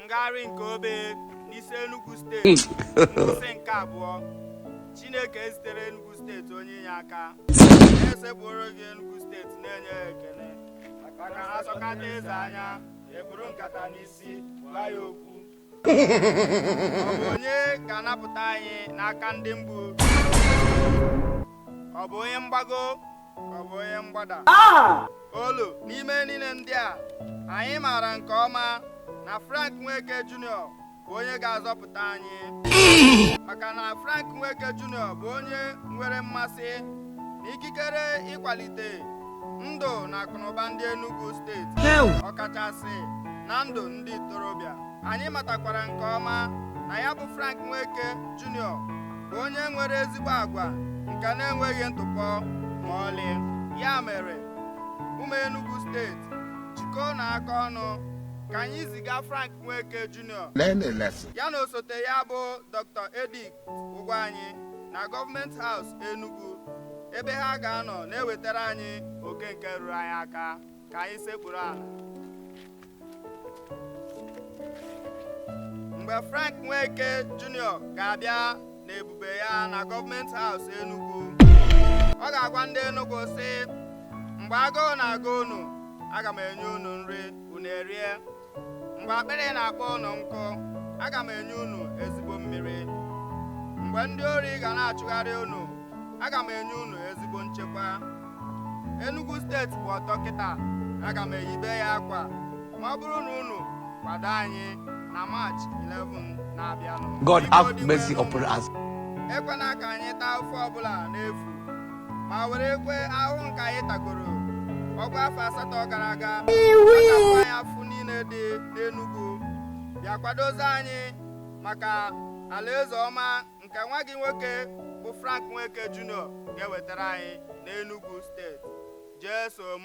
ngagharị nke obe n'isi Enugu steeti isi nke abụọ Chineke ezitere Enugu steeti onye inye aka anyị esekpuoro gị Enugu steeti na-enye ya ekele maka na a sọkata eze anya ekpuru nkata n'isi gwa ya okwu ọ bụ onye ga-anapụta anyị n'aka ndị mgbu ọ bụ onye mgbago ọ bụ onye mgbada olu n'ime niile ndị a anyị maara nke ọma na Frank Nweke Junior bụ onye ga-azọpụta anyị maka na Frank Nweke Junior bụ onye nwere mmasị na ikikere ịkwalite ndụ na akụnụba ndị Enugu steeti ọkachasị na ndụ ndị ntorobịa anyị matakwara nke ọma na ya bụ Frank Nweke Jr. bụ onye nwere ezigbo agwa nke na-enweghị ntụpọ ma ọlị ya mere ụmụ Enugu steeti jikọọnụ aka ọnụ ka anyị ziga Frank Nweke Jr. ya na osote ya bụ Dr. Edith Ugwuanyi na gọọmenti haus Enugu ebe ha ga-anọ na-ewetara anyị oke nke ruru anyị aka ka anyị sekpuru ala mgbe Frank Nweke Junior ga-abịa n'ebube ya na gọọmenti haus Enugu ọ ga-agwa ndị Enugu sị mgbe agụụ na-agụ unu aga m enye unu nri unu erie mgbe akpịrị na-akpọ unu nkụ aga m enye unu ezigbo mmiri mgbe ndị ori ga na-achụgharị unu aga m enye unu ezigbo nchekwa Enugu steeti gba ọtọ kịta aga m eyibe ya akwa ma ọ bụrụ na unu kwado anyị na March 11 na-abịanụ God have mercy upon us. ekwena ka anyị taa afụfụ ọbụla n'efu ma were ekwe ahụhụ nke anyị tagoro ọ gbaa afọ asatọ gara aga anyị afụfụ niile dị n'Enugu bịa kwadozie anyị maka alaeze ọma nke nwa gị nwoke bụ Frank Nweke Junior ga-ewetara anyị n'Enugu steeti Jesu m